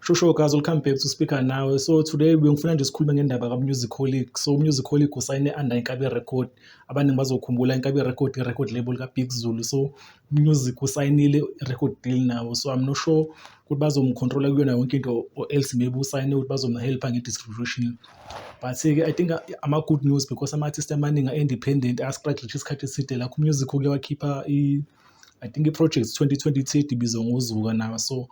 Shosho guys, we'll come back to speaker now. So today bengifuna nje sikhulume ngendaba kaMusicolic. So Musicolic usayine under Inkabi Record. Abaningi bazokhumbula Inkabi Record, record label kaBig Zulu. So Music usayinile i-record deal nawo so I'm not sure ukuthi bazomu-control-a kuyona yonke into or else maybe usayine ukuthi bazomu-help-a nge-distribution. But-ke I think ama-good news because ama-artist amaningi a-independent a-struggle isikhathi eside lakho u-Music uke wakhipha i-I think i-Projects 2020 ethi ibizwa ngoZuka nawo so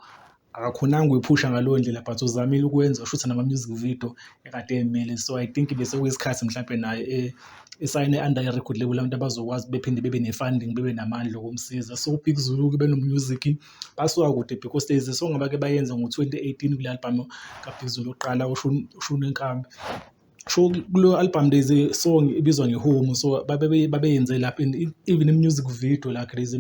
akakhonanga ukuyiphusha ngaleyo ndlela but uzamile ukwenza ushutha nama-music video ekade emele so i think bese kuyisikhathi mhlawumpe naye eh, esayine under i-record label abantu abazokwazi bephinde bebe ne-funding bebe namandla okumsiza so ubig zulu kube nomusic basuka kude because days so ngaba ke bayenze ngo-2018 kule albhamu kabig zulu oqala ushunenkambi Kusho kuleyo album there's a song ebizwa ngeHome so babeyenze lapho and even i-music video lakhe there's a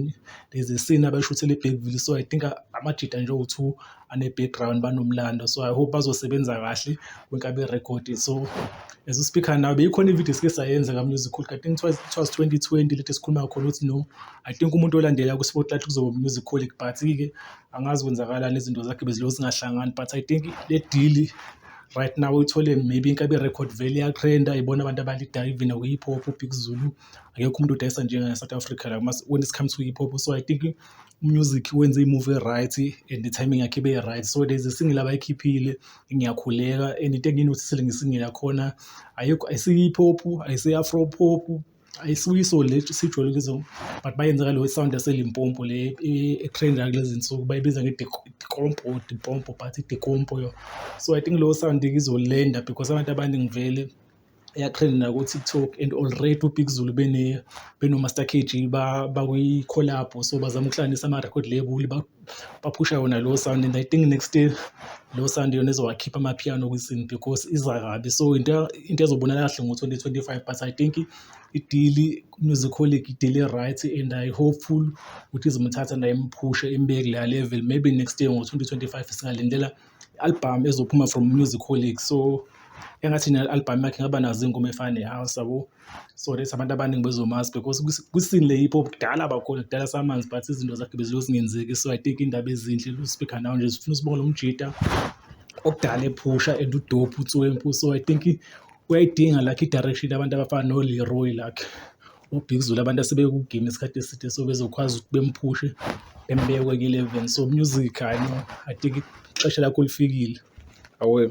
there's a scene abashuthele eBergville so I think amajita nje awu-two ane-background banomlando so I hope bazosebenza kahle bonke aberekhodi. So as we speak now beyikhona i-video esike sayenza ka-music Holic I think it was it was twenty twenty lento esikhuluma ngakhona ukuthi no I think umuntu olandela ku-spotlight kuzoba u-music Holic but-ke angazi kwenzakalani izinto zakhe bezilokhu zingahlangani but I think le deal right now uthole maybe inkabi record value yatrenda ibona abantu abalidayo even nakwi-hip hop ubig zulu akekho umuntu udayisa njengane-south africa la mas- when it comes to hip hop so i think umusic wenze imove e-right and i-timing yakhe ibe right so there's a single abayikhiphile ngiyakhuleka and into engiyinotisile ngesingile yakhona ayikho ayisiyi-hip hop ayisiyi-afro pop ayisuke isoli le sijwayele ukuzwa but bayenza ngalo sound yaselimpompo le etrenda kulezi nsuku bayibiza ngedikompo or dipompo but idikompo yo so i think leyo sound izolenda because abantu abaningi vele eyatrend naku-tiktok and already ubig zulu benomaster kg bakwi-collabo so bazama ukuhlanganisa ama-record label baphusha yona leyo sound and i think next year leyo sound yona izowakhipha amapiano kwisin because iza kabi so into into ezobonala kahle ngo-twenty twenty-five but i think idili musicolic idili right and i hopeful ukuthi izomthatha naye imphushe imbeke kuleya level maybe next year ngo-twenty twenty-five singalindela I-album ezophuma from Musikholic so engathi nayo i-album yakhe ingaba nazo iy'ngoma ey'fana ne-house yabo. So that's abantu abaningi bezomazi because kwi-scene le hip hop kudala abakhona kudala samazi but izinto zakhe bezilokhu zingenzeki. So I think iy'ndaba ezinhle lo speaker now nje zifuna usibone lo mjita okudala ephusha and udope uTswempu. So I think uyayidinga lakhe i-direction abantu abafana noLeroy lakhe uBigzulu abantu asebekugime isikhathi eside so bezokwazi ukuthi bemphushe bembeke kwenye i-level so music i know i think ixesha lakho lifikile awe